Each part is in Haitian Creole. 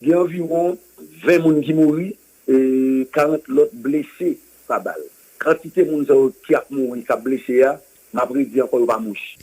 Gen anviwon 20 moun ki mouri e 40 lòt blese pa bal. Kantite moun sa yo ki ap mouri, k ap blese a, m ap redi ankò, yo pa mouch.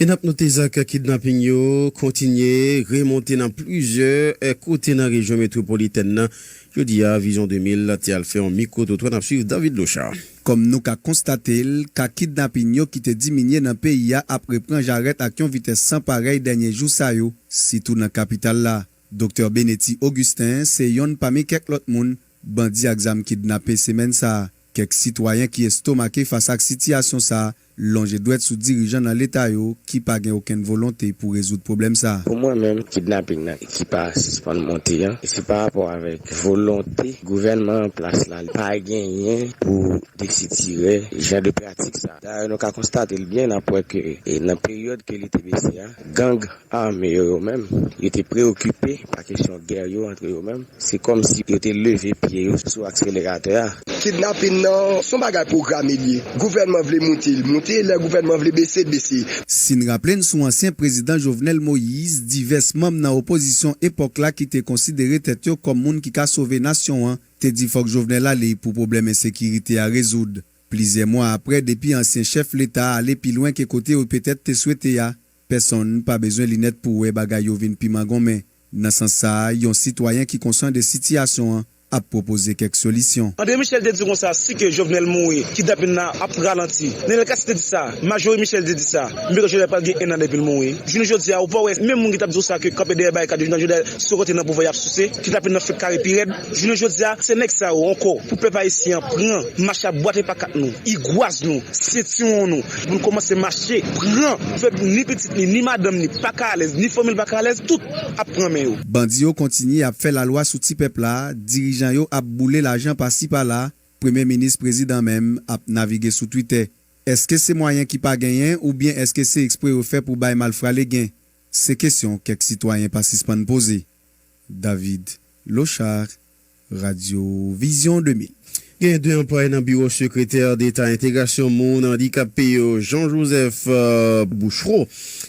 E n ap note zak kidnaping yo kontinye remonte nan plizyè kote nan rejyon metwopolitèn nan. Jodi a, Vizyon 2000 te al fè yon mikwo-twotwa, n ap suiv David Lochard. Kòm nou ka konstate l, ka kidnaping yo ki te diminye nan peyi a ap repran jarèt ak yon vitès san parèy dènye jou sa yo, sitou nan kapital la. Doktè Benety Augustin se yonn pami kèk lòt moun bandi ak zam kidnape semèn sa a. Kèk sitwayen ki estomake fas ak sitiyasyon sa a lonje dwèt sou dirijan nan leta yo ki pa gen okenn volonte pou rezoud pwoblèm sa a. Pou mwen menm, kidnaping nan ki pa sispann monte an, se pa rapò avèk volonte gouvènman an plas la pa genyen pou desitirè jan de pratik sa a. Dayè nou ka konstate l byen, n ap wè ke nan peryòd ke li te bese a, gang ame yo yo menm, yo te preyokipe pa kesyon gè yo antre yo menm, se kòm si yo te leve pye yo sou akseleratè a. Kidnapin nan, s on bagay pwograme l ye. Gouvènman vle moute, l moute, lè gouvènman vle bese, l bese. Si n raple n sou ansyen prezidan Jovenel Moïse, divès manm nan opozisyon epòk la ki te konsidere tèt yo kòm moun ki ka sove nasyon an, te di fòk Jovenel ale pou pwoblèm ensekirite a rezoud. Plizyè mwa aprè, depi ansyen chèf Leta a ale pi lwen ke kote yo petèt te swete a, Pèsonn pa bezwen linèt pou wè bagay yo vin pi mangonmen. Nan sans sa, yon sitwayen ki konsan de sitiyasyon an ap pwopoze kèk solisyon. Andre Michel te di konsa, si ke Jovenel mouri, kidnapin la ap ralanti. Nenel Cassy te di sa, Majorie Michel te di sa, menm jan Jovenel pral gen 1 an depi l mouri. Jounen jodi a, ou pa wè menm moun ki t ap di w sa ke kanpe dèyè barikad yo nan Jovenel sou rete nan pouvwa y ap souse, kidnapin nan fenk kare pi rèd. Jounen jodi a, se nèg sa yo ankò pou pèp ayisyen an pran, mache ap bwate pakat nou, igwaz nou, sentiwon nou, Moun komanse mache, pran fe ni pitit ni ni madanm ni paka alèz ni fanmil paka alèz tout ap pran men yo. Bandi yo kontinye ap fè lalwa sou ti pèp la, dirijan yo ap boule lajan pasi pala, premye minis prezidan menm ap navige sou twitè. Eske se mwayen ki pa genyen oubyen eske se ekspre yo fè pou bay malfra legen? Se kesyon kèk sitwayen pa sispann poze. David Lochard, Radyo Vizyon 2000. Gen 2 anplwaye nan biwo sekretè deta entegrasyon moun andikape yo, Jean Joseph Bouchereau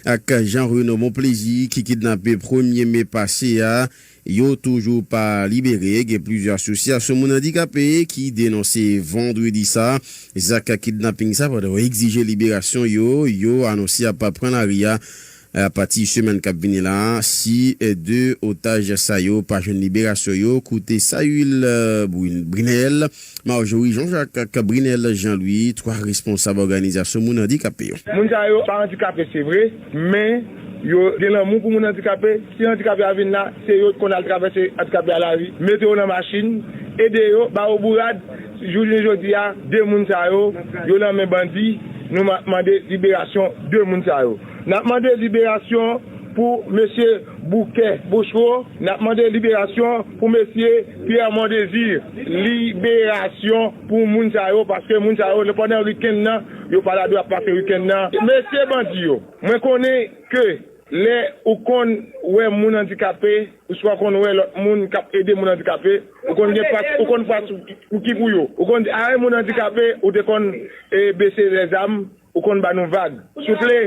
ak Jean Renaud Monplezi ki kidnape premye me pase a, yo toujou pa libere. Gen plizyè asosyasyon moun andikape ki denonse vandredi sa zak kidnaping sa pandan yo egzije liberasyon yo, yo anonse ap pran lari a. Apati semèn kap vini la a, si 2 otaj sa yo pa jwenn liberasyon yo, koute Saül Brunel, Marjorie Jean Jacques ak Brunel Jean Louis, 3 responsab òganizasyon moun andikape yo. Moun sa yo pa andikape se vre, men yo gen lanmou pou moun andikape, si andikape a vin la, se yo ki konn al travèse andikape a lari, mete yo nan machin, ede yo, ba yo bourad, jounen jodi a 2 moun sa yo, yo nan men bandi, nou mande liberasyon 2 moun sa yo. Nap mande liberasyon pou Mesye Bouke Bochro Nap mande liberasyon pou Mesye Pierre Mondésir Liberasyon pou moun sa yo paske moun sa yo pandan weekend nan yo pa la dwe ap pase weekend nan Mesye bandi yo mwen konnen ke lè ou konn wè moun andikape ouswa konn wè lòt moun kap ede moun andikape ou konn gen pas ou konn pas ou ki pou yo ou konn di ae moun andikape ou te konn bese lèzam Ou konn ba nou vag. Souple,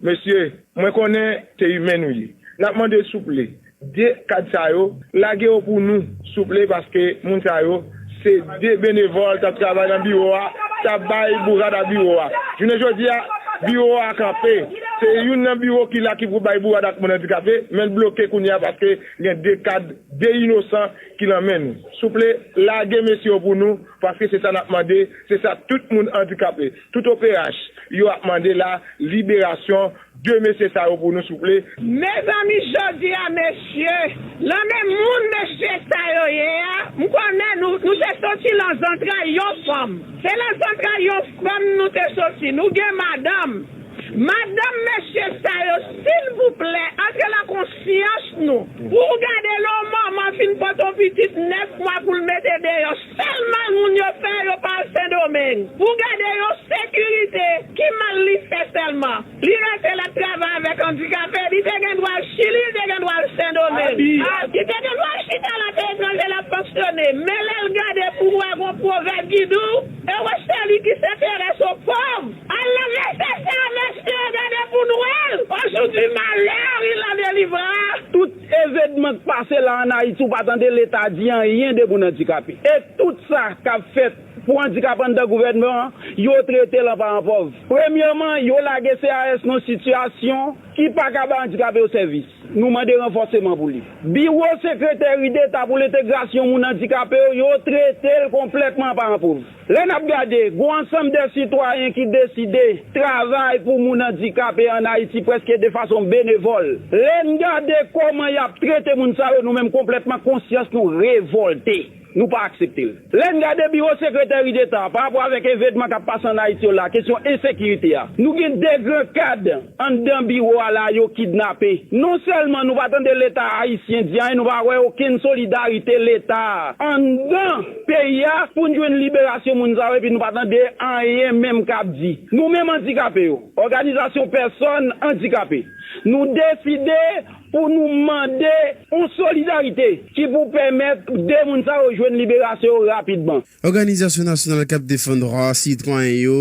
mesye, mwen konnen se imen nou ye. N ap mande souple, 2 kad sa yo, lage yo pou nou, souple, paske moun sa yo se 2 benevòl k ap travay nan biwo a, k ap bay bourad a biwo a. Jounen jodi a, biwo a kanpe. Se youn nan biwo ki la ki pou bay bourad ak moun andikape, men l bloke kounye a paske gen 2 kad, 2 inosan ki nan men nou. Souple, lage mesye yo pou nou, paske se sa n ap mande, se sa tout moun andikape. Tout operach yo ap mande la liberasyon de mesye sa yo pou nou souple. Mezanmi jodi a mesye lan men moun mesye sa yo ye a m konnen nou nou te soti lan zantray yon fanm se lan zantray yon fanm nou te soti nou gen madanm madanm mesye sa yo silvouplè antre lan konsyans nou pou w gade lon manman fin pot on pitit 9 mwa pou l mete deyò Sèl mal moun yo fè yo pa al sendomeng pou gade yon sekirite ki mal li fè sèlman li rete lap travay avèk andikape li te gen dwa al chili li te gen dwa al sendomeng li te gen dwa al chita la peyi etranje lap fonksyone men lèl gade pouvwa gon pwovèb ki diw ewo seli ki senterese o pov al nan vèsè sa mesye gade poun wèl o jou du malheur il en delivrera tout Evedman k pase la an Ayiti ou pa tande leta di anyen de moun andikape. E tout sa k ap fèt pou andikape anndan gouvènman an, yo trete l an paran pòv. Premyèman, yo lage CAS nan sitiyasyon ki pa ka bay andikape yo sèvis. Nou mande ranfòseman pou li. Biwo sekreteri deta pou lentegrasyon moun andikape yo, yo trete l konplètman an paran pòv. Lè n ap gade, gon ansanm de sitwayen ki deside travay pou moun andikape an Ayiti prèske de fason benevòl. Lè n gade kòman y ap trete moun sa yo, nou menm konplètman konsyans nou revòlte. Nou pa aksepte l. Lè n gade Biwo Sekretèri Deta a, pa rapò avèk evedman k ap pase an Ayiti yo la, kesyon ensekirite a, nou gen de gran kad anndan biwo a la yo kidnape. Non sèlman nou pa tande Leta ayisyen di anyen, nou pa wè okenn solidarite Leta anndan. peyi a poun jwenn liberasyon moun sa yo epi nou pa tande anyen menm kap di nou menm andikape yo òganizasyon pèsòn andikape nou deside pou nou mande yon solidarite ki pou pèmèt 2 moun sa yo jwenn liberasyon yo rapidman. Òganizasyon nasyonal kap defann dwa sitwayen yo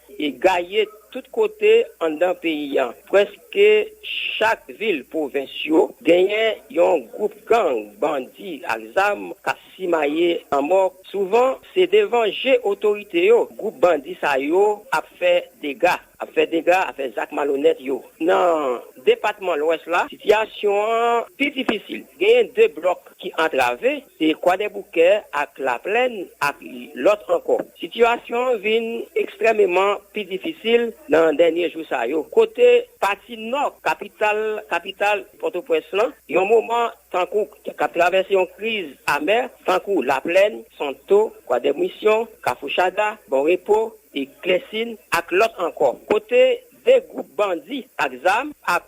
E gaye tout kote anndan peyi an. Prèske chak vil pwovens yo genyen yon gwoup gang bandi ak zam k ap simaye lanmò. Souvan, se devan je otorite yo gwoup bandi sa yo ap fè dega, ap fè dega, ap fè zak malonèt yo. Nan depatman Lwès la, sitiyasyon an pi difisil. Genyen de blòk ki antrave, Se Kwadèboukè ak Laplèn ak lòt ankò. Sitiyasyon an vin ekstrèmeman pi difisil nan dènye jou sa yo, kote pati nò kapital kapital Pòtoprens lan, yon moman tankou k ap travèse yon kriz amè, tankou Laplèn, Santo, Kwadèbmisyon, Kafou Chada, Bon Repo, Klèsin ak lòt ankò, kote 2 gwoup bandi ak zam ap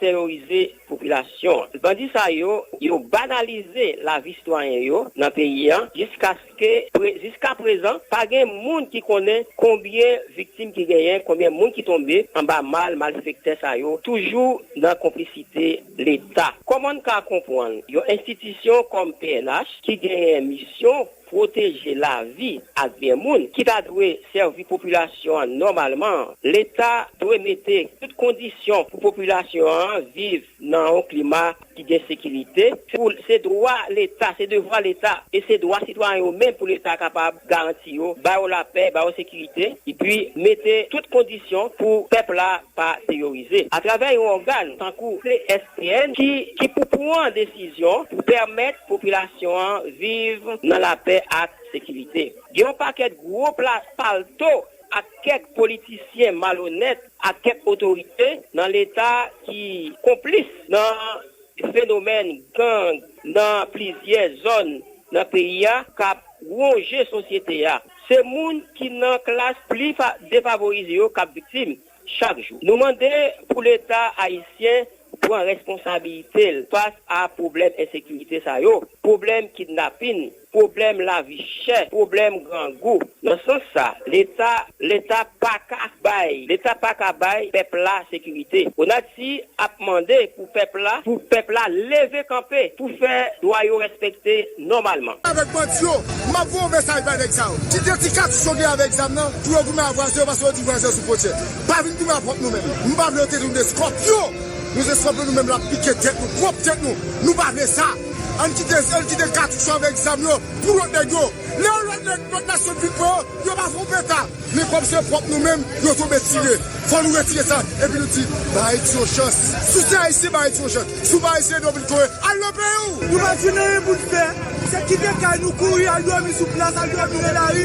terorize popilasyon an. Bandi sa yo, yo banalize lavi sitwayen yo nan peyi an jiskaske jiska prezan pa gen moun ki konnen konbyen viktim ki genyen, konbyen moun ki tonbe anba mal malfektè sa yo toujou nan konplisite leta. Kòman n ka konpwann yon enstitisyon kòm pnh ki genyen misyon pwoteje lavi ak byen moun ki ta dwe sèvi popilasyon an nòmalman an, Leta dwe mete tout kondisyon pou popilasyon an viv nan yon klima ki gen sekirite. Se dwa Leta, se devwa Leta e se dwa sitwayen yo menm pou Leta kapab garanti yo, ba yo lapè, ba yo sekirite epi mete tout kondisyon pou pèp la pa teyorize atravè yon ògàn tankou CSPN ki pou pran desizyon pou pèmèt Popilasyon an viv nan lapè ak sekirite. Gen yon pakèt gwo plas palto ak kèk politisyen malonèt ak kèk otorite nan leta ki konplis nan fenomèn gang nan plizyè zòn nan peyi a k ap wonje sosyete a. Se moun ki nan klas pli defavorize yo k ap viktim. Chak jou, nou mande pou Leta ayisyen pran responsabilite l fas a pwoblèm ensekirite sa yo, pwoblèm kidnapin, pwoblèm lavi chè, pwoblèm grangou. Nan sans sa, Leta Leta pa ka bay Leta pa ka bay pèp la sekirite. Ti ap mande pou pèp la pou pèp la leve kanpe pou fè dwa yo respekte nòmalman. Avèk bandi yo, map voye yon mesaj bay nèg sa yo. Kite ti katouch yo gen avèk zam nan pou yo goumen a vwazen yo paske yo di vwazen sou fwontyè. Pa vin goumen a pwòp nou menm. Nou pa vle yo te nou de skòpyon. Nou se skòpyon nou menm lap pike tèt nou pwòp tèt nou. Nou pa vle sa. Ann kite zel kite katouch yo avèk zam yo pou lòt nèg yo. Lè yon lòt nèg lòt nasyon vin pran yo, yo pa fè yon peta. Men kòm se pwòp nou menm yo tonbe tire. Fò nou retire sa epi nou di ba Ayiti yon chans. Si w se Ayisyen ba Ayiti yon chans. Si w pa Ayisyen ede w vin kore. Al nan peyi w! Nou pa jwenn anyen pou n fè. Se kite kay nou kouri al dòmi sou plas, al dòmi nan lari.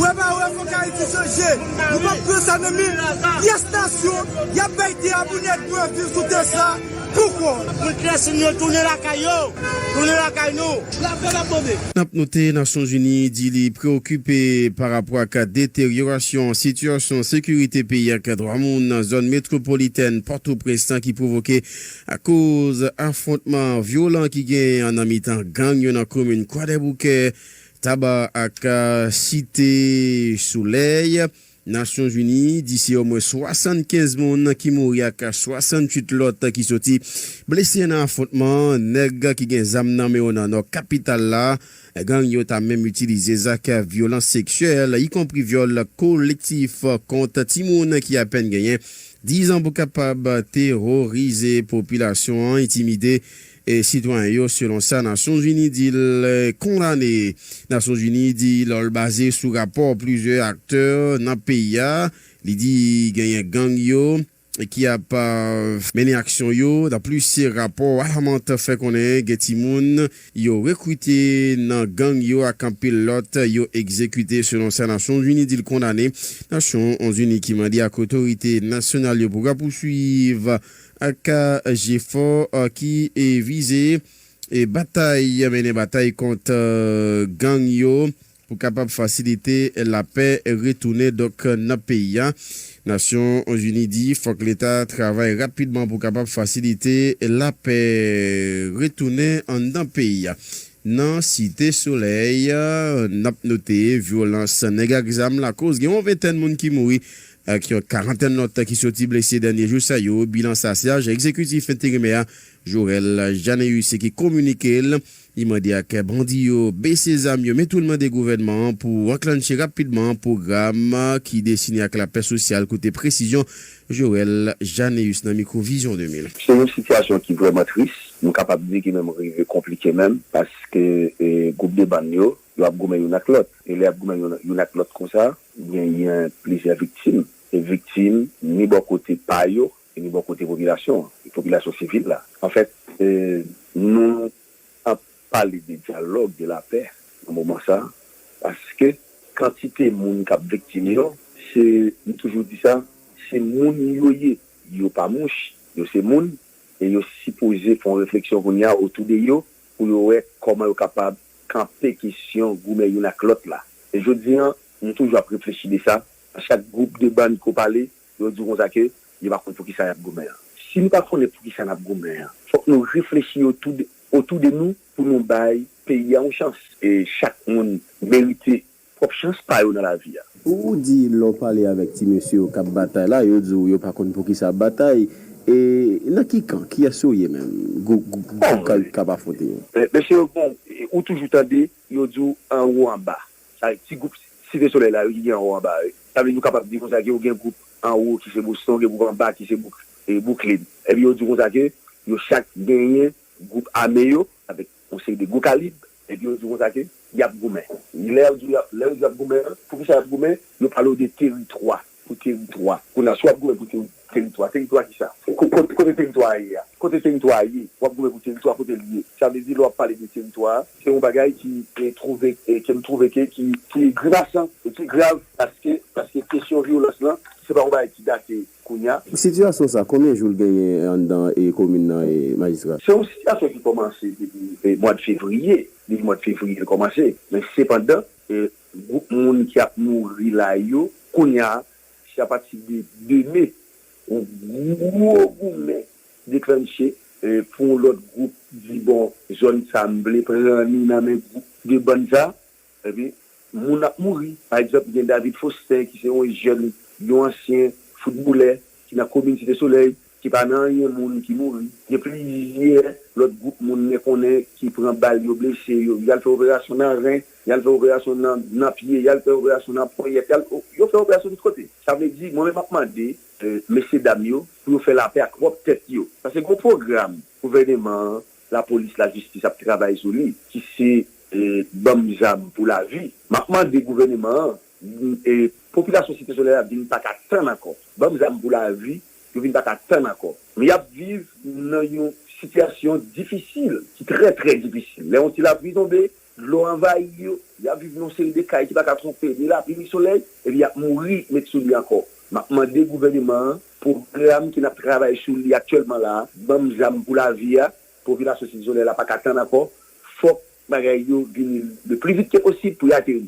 Wè pa wè fòk Ayiti chanje. Nou pap pran sa nan men pyès nasyon. Y ap bay tè a pou nèg nou ap viv sou tè sa. Pouko moun Clesin yo tounen lakay yo, tounen lakay nou. La pè nap mande. N ap note Nasyonzini di li preokipe pa rapò ak deteryorasyon sitiyasyon sekirite peyi ak dwa moun nan zòn metwopolitèn Pòtoprens lan ki pwovoke akoz afwontman vyolan ki genyen an nan mitan gang yo nan komin Kwadèboukè, Taba ak Site Solèy. Nasyonzini di se omwen 75 moun ki mouri ak 68 lòt ki soti blese nan afwontman nèg ki gen zam nan men yo nan nò kapital la. Gang yo ta menm itilize zak vyolans seksyèl, ikonpri vyòl kolektif kont timoun ki apèn genyen 10 an pou kapab teworize popilasyon an, entimide. Sitwayen yo, selon sa Nasyonzini di l, kondane. Nasyonzini di lò l baze sou rapò plizyè aktè nan peyi a, li di genyen gang yo ki ap. Mennen aksyon yo. Anplis, rapò Warmont fè konnen gen timoun yo rekrite nan gang yo ak anpil lòt yo egzekite, selon sa Nasyonzini di l kondane. Nasyonzini ki mande ak otorite nasyonal yo pou rapousuiv. ak jefò ki vize batay mennen batay kont gang yo pou kapab fasilite lapè retounen donk nan peyi a. Nasyon Zini di fòk leta travay rapidman pou kapab fasilite lapè retounen anndan peyi a. Nan Site Solèy, n ap note vyolans nèg ak zam lakoz gen yon ventèn moun ki mouri Ak yon karantèn lòt ki soti blese dènye jou sa yo, bilan sa Syaj Egzekitif Enterimè a, Jorel Janneus ki kominike l. Li mande ak bandi yo bese zam yo men tou l mande gouvènman an pou anklannche rapidman pwogram ki desine ak lapè sosyal koute presizyon Jorel Janneus nan mikwo Vizyon 2000. Se yon sitiyasyon ki vrèman tris, m kapab di ki menm rive konplike menm paske gwoup de bann yo, yo ap goumen youn ak lòt e lè y ap goumen youn ak lòt konsa, Genyen plizyè viktim, e viktim ni bò kote pa yo e ni bò kote popilasyon an, popilasyon sivil la. Anfèt, nou ap pale de dyalòg, de lapè nan moman sa a, paske kantite moun k ap viktim yo, se, m toujou di sa, se moun yo ye. Yo pa mouch, yo se moun, e yo sipoze fè yon refleksyon kounye a otou de yo pou yo wè kòman yo kapab kanpe kesyon goumen youn ak lòt la. E jodi an, m toujou ap reflechi de sa, a chak gwoup de bann ke w pale, yo di w konsa ke yo pa konn poukisa y ap goumen an. Si nou pa konnen poukisa n ap goumen an, fòk nou reflechi otou de otou de nou pou nou bay peyi a yon chans. E chak moun merite Pwòp chans pa yo nan lavi a. Ou di lè w pale avèk ti mesye yo k ap batay la, yo di w yo pa konn poukisa ap batay. E nan ki kan? Kiyès yo ye menm? Gwoup k ap afwonte yo? Mesye yo bon, ou toujou tande yo di w anwo anba. Sa vle di ti gwoup Site Solèy la yo ki gen anwo anba yo. Sa vle di nou kapab di konsa ke ou gen gwoup anwo ki se Boston, ou gen gwoup anba ki se Bouklin. Epi yo di w konsa ke yo chak genyen gwoup ame yo avèk Yon seri de gwo kalib, epi yo di w konsa ke y ap goumen. Lè yo di w y ap goumen an, pou kisa y ap goumen? Yo pale w de teritwa, pou teritwa. Kounye a, si w ap goumen pou teritwa, teritwa kisa? Kote teritwa a ye a? Kote teritwa a ye? W ap goumen pou teritwa, kote l ye? Sa vle di, lè w ap pale de teritwa a, se yon bagay ki twouve, ke m twouve ke ki grimasan, e ki grav, paske kesyon vyolans lan, se pa yon bagay ki date Kounya. Sitiyasyon sa konbyen jou l genyen anndan komin nan majistra? Se yon sitiyasyon ki kòmanse depi mwad fevriye, depi mwad fevriye l kòmanse men sepandan gwoup moun ki ap mouri la yo kounya se apati de 2 me yon gwo goumen deklannche pou yon lòt gwoup di bon zòn sa m vle pran li nan men gwoup 2 bann sa Epi, moun ap mouri. Pa egzanp, gen David Faustin ki se yon jèn, yon ansyen foutbolè ki nan komin Site Solèy ki pa nan anyen moun ki mouri. Gen plizyè lòt gwoup moun mwen konnen ki pran bal, yo blese yo. Y al fè operasyon nan ren, y al fè operasyon nan pye, y al fè operasyon nan ponyèt, y al, yo fè operasyon tout kote. Sa vle di, mwen menm m ap mande mesyedam yo pou yo fè lapè ak pwòp tèt yo. Paske gen yon pwogram gouvèneman an La police la justice ap travay sou li ki se banm zam pou la vi map mande gouveneman an popilasyon site soley la vin paka tann anko banm zam pou la vi yo vin paka tann anko men yap viv nan yon sitiyasyon difisil ki tre tre difisil le yon ti la pli tonbe Dlo anvayi yo, y ap viv nan yon seri de kay ki pa ka twonpe ni lapli ni solèy, epi y ap mouri met sou li ankò. M ap mande gouvèneman an, pwogram ke n ap travay sou li aktyèlman la a, banm zam pou lavi a, popilasyon Site Solèy la pa ka tann ankò, fòk bagay yo vini le pli vit ke posib pou y ateri.